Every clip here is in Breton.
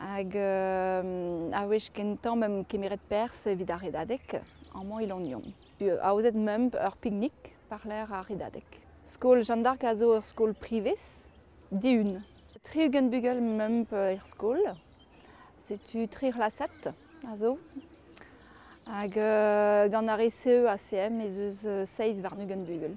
Hag a wech kentañ m'em kemeret perzh evit ar redadeg, amañ Ilognon. Aozet meump ur piknik war-lerc'h ar redadeg. Skol Jeanne d'Arc a zo ur skol privez, dihun. Tri-ugent bugel meump er skol. Setu tri c'hlasad a zo. Hag gant ar ECE ACM ez eus seizh warn-ugent bugel.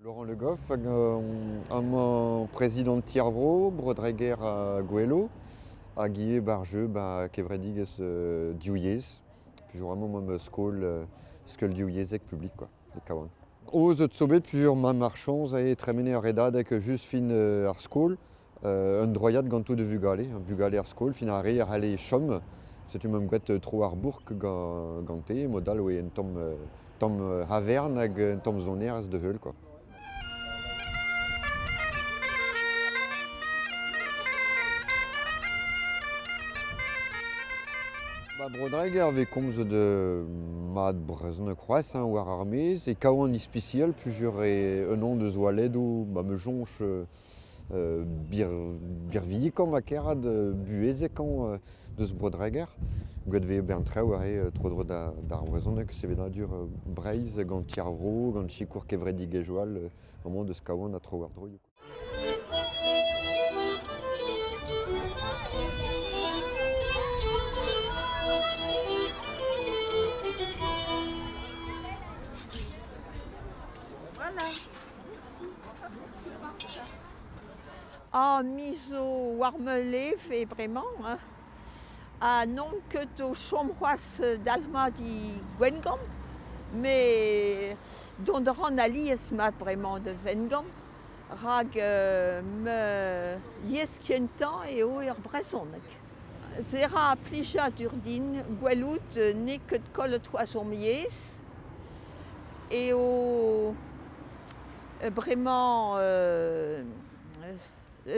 Laurent Le Goff, un président Tiervro, Brodreger à Goello, hag ivez barjeu ba kevredigezh div yezh, toujours un moment skol, skol div yezhek publik quoi. kavan. O zot zo bet sur ma marchañs e tremene ar redadeg just fin ar skol, un droiad ganto de vugale, bugale ar skol, fin ar re a c'halle chom. Setu m'am gouet tro ar bourk gante, mod all oe un tamm tamm havern hag un tamm sonerezh da heul, quoi. Ba Bro-Dreger vez komzet euh, mat brezhoneg c'hoazh hein, war ar maez e kavan ispisial plusieurs e un an deus oaledoù ba ma soñj euh, birvilikañ va kerc'hat buhezekañ deus Bro-Dreger. Gwelet vez ober an traoù aze tro-dro d'ar vrezhoneg, sevenadur Breizh gant Ti ar Vro, gant sikour kevredigezhioù all amañ deus Kawan ha tro-war-dro. Voilà Ah me zo war ma leve bremañ hein, ha n'on ket o chom c'hoazh dalc'hmat e Gwengamp, met dont a ran alies mat bremañ da Wengamp rak ma yezh kentañ eo ar brezhoneg. Se ra plijadur din gwelout n'eo ket kollet c'hoazh hom yezh. eo bremañ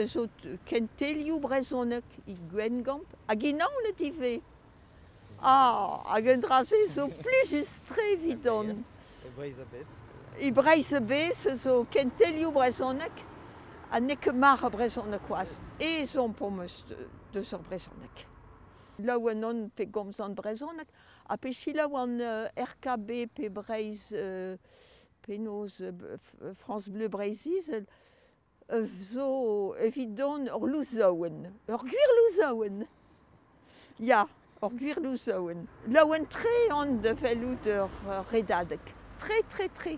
zo kentelioù brezhoneg e Gwengamp hag e Naoned ivez. Ah, hag un dra-se zo plijus-tre evidon. E Breizh-a-Bez. E Breizh-a-Bez zo kentelioù brezhoneg ha n'eo ket mar brezhoneg c'hoazh. Ezhomm 'm eus deus ur brezhoneg. Laouen on pe gomzan brezhoneg. Ha pe selaou an RKB pe Breizh, penaos France Bleu Breizh Izel, zo evidon ur louzaouenn, ur gwir louzaouenn. Ya, ur gwir louzaouenn. Laouen-tre on da fellout ur redadeg, tre, tre, tre.